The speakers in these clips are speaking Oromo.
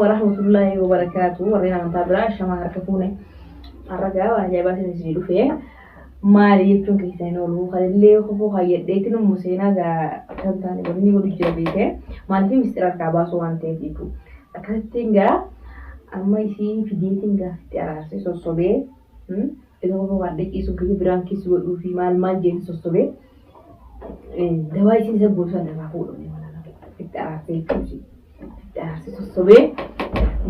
warahmatullaahi wabarakaatu warreen amantaa biraa shamaa harka fuune arragaa waan ajaa'ibaa isin isinii dhufe maali jechuun keessan hin oolu kanillee kofoo kaayyadheetti nu museenaa gaa kan taane wanni godhu jira beeke maaliif mistira harkaa baasuu waan ta'eef jechuu akkasittiin gaa amma isii fideetiin gaaffitti araarsee sossobee Yeroo homa waadda ciisu gini biraan kiss godhuu fi maal maal jeeti sossobe dawaa isiin isa goosan irraa fuudhu ni malala itti araarsee jechuun ishii itti araarsee sossobee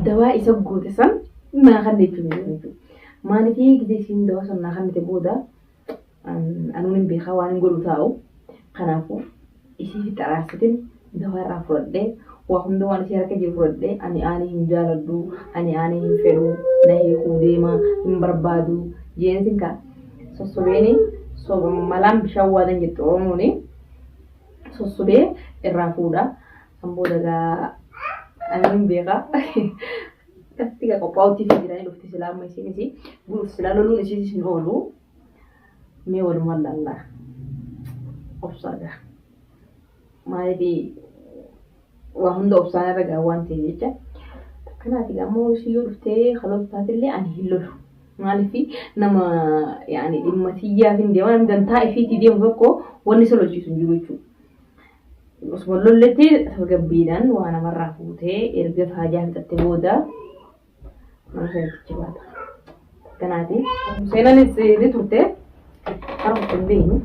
dawaa isa goote san naa kanne jechuun ni jechuudha. Maaliifii gidee isiin dawaa san naa kannite booda anuun hin beekaa waan hin godhu taa'u kanaafuu isii fixa aarsitin dawaa irraa furadhee waa hunda waan isii harka jiru furadhee ani aanii hin jaaladhu ani aanii hin fedhu na hiikuu deema hin barbaadu jeenetin ka sossobeeni soba malaan bishaan waadan jettu oromooni sossobee irraa fuudha san booda gaa ani hin beeka katti gaa qophaa'utti fi jiranii dhufti silaa amma isiin isii guluuf silaa loluun isiis hin oolu Mee walumaan laallaa. Obsaa gaa. Maaliifi waa hunda obsaan irra gaa waan ta'e jecha. Kanaaf egaa ammoo ishii yoo dhuftee kaloltu taatellee ani hin lolu. Maaliifi nama yaani dhimma tiyyaaf hin deemaa namni dantaa ifiitii deemu tokko wanni isa lolchiisu hin jiru jechuudha. Osuma lolletti tasgabbiidhaan waa namarraa fuutee erga faajaa fixatte booda Kanaati. Seenanis ni turte. Har'a of hin beeknu.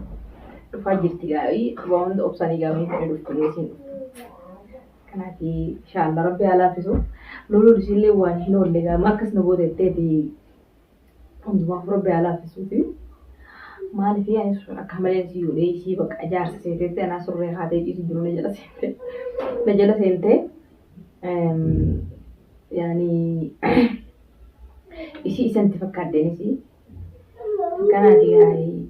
Dhufaa jirti gaa'ii. Waan obsanii gaa'ii ta'ee dhuftu geessiin dhuftu. Kanaati. Inshaallah rabbi haa laaffisu. Loluun isiillee waan hin oolle gaama akkas nu goote jetteeti Hundumaaf rabbi haa laafisuufi. Maaliif ani sun akka malee si godhee isii bakka jaarsa seeteetti anaa surree haatee ciisu jiru na jala seentee. Na jala seentee yaani isii isanti fakkaadheen isii. Kanaati gaarii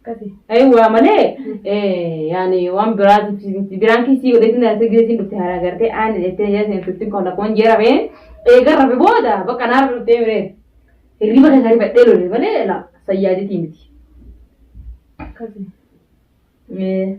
Akkasi. Ayi waa malee yaani waan biraatiif biraan kiisii godheetiin dhalatee gireetiin dhufte haaraa gartee aan jettee yaa isin turtiin koon rakkoon jee rabee eega rabe booda bakka naa rabe dhuftee miree hirriba keessaa rifadhee lole malee la sayyaaditii miti. Akkasi. Ee.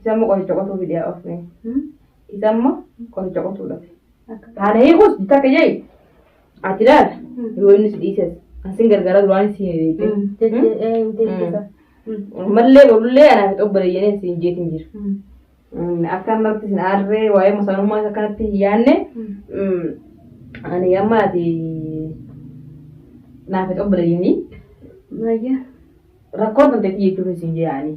Isamma qoricha qotuu fide yaa ofne. Isamma qoricha qotuu dhafe. Haana hiikus takka jai. Ati laal yoo inni si dhiises kan sin gargaara duraan si jechuudha. Mallee bolullee anaa fi xobba deeyyanii si hin jeetin jira. Akka ammarratti sin aarree waa'ee masaanummaa isa kanatti hin yaanne ani amma ati naaf hin xobba deeyyanii Baay'ee. rakkoo kan ta'etti jechuun sin jeeyaanii.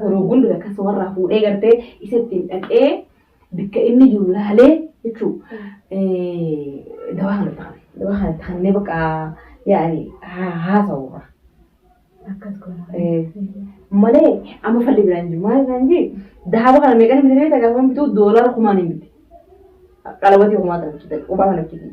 Yeroo hunda lakkoofsa warraa fuudhee gartee isa ittiin dhaqee bakka inni jiru laalee jechuu dawaa kana ta'an dawaa kana ta'annee bakka yaa'anii haasa'u irraa. Akkas goona. Malee amma falli biraan jiru maal isaan jee daaba kana meeqan bitee beekta gaafa bituu doolaara kumaan hin bite. Qalabatii kumaa ta'an qubaa kana bitee.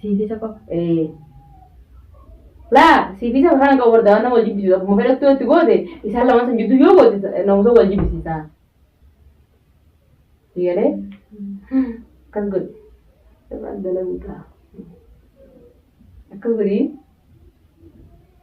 Siifisa qofa. Ee. Laa siifisa mataa hin qabu bar daawwan nama wal jibbisiisu akkuma fedhattu yoo itti goote isaan lamaan san jidduu yoo goote ta- namusa wal jibbisiisa. Si galee? Akkas godhi. Dabaan dalaguu ta'a. Akkas godhi.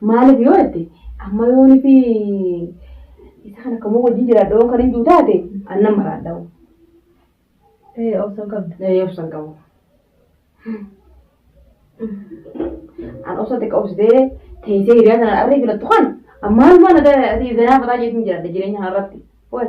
Maaliif yoo jette amma yoon fi isa kana kamuu wajjin jiraadha yoon kan hin jiru taate annan maraadha. Ee obsan qabda. Ee obsan qabu. An obsa xiqqa obsitee teessee hiriyaa sana arrii filattu kan ammaan mana ati zanaa fataa jeetiin jiraadha jireenya kana irratti. Wal.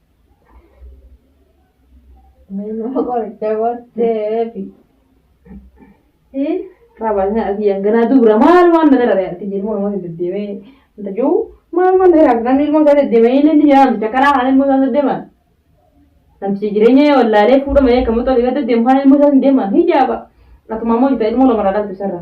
Nama qoricha booddee fi qaabanya asii hanganaa dubra maal waan na dhala ta'e jeen morma hin deddeemee hin tajuu maal waan na dhala namni ilmoo isaa deddeemee inni inni jedhamu isa karaa kan ilmoo isaa deddeeman namtichi jireenya yoo wallaalee fuudha malee kan muxoo dhiirota deemu kan ilmoo isaa hin deeman hijaaba akkuma ammoo jita ilmoo lama dhalatu sarra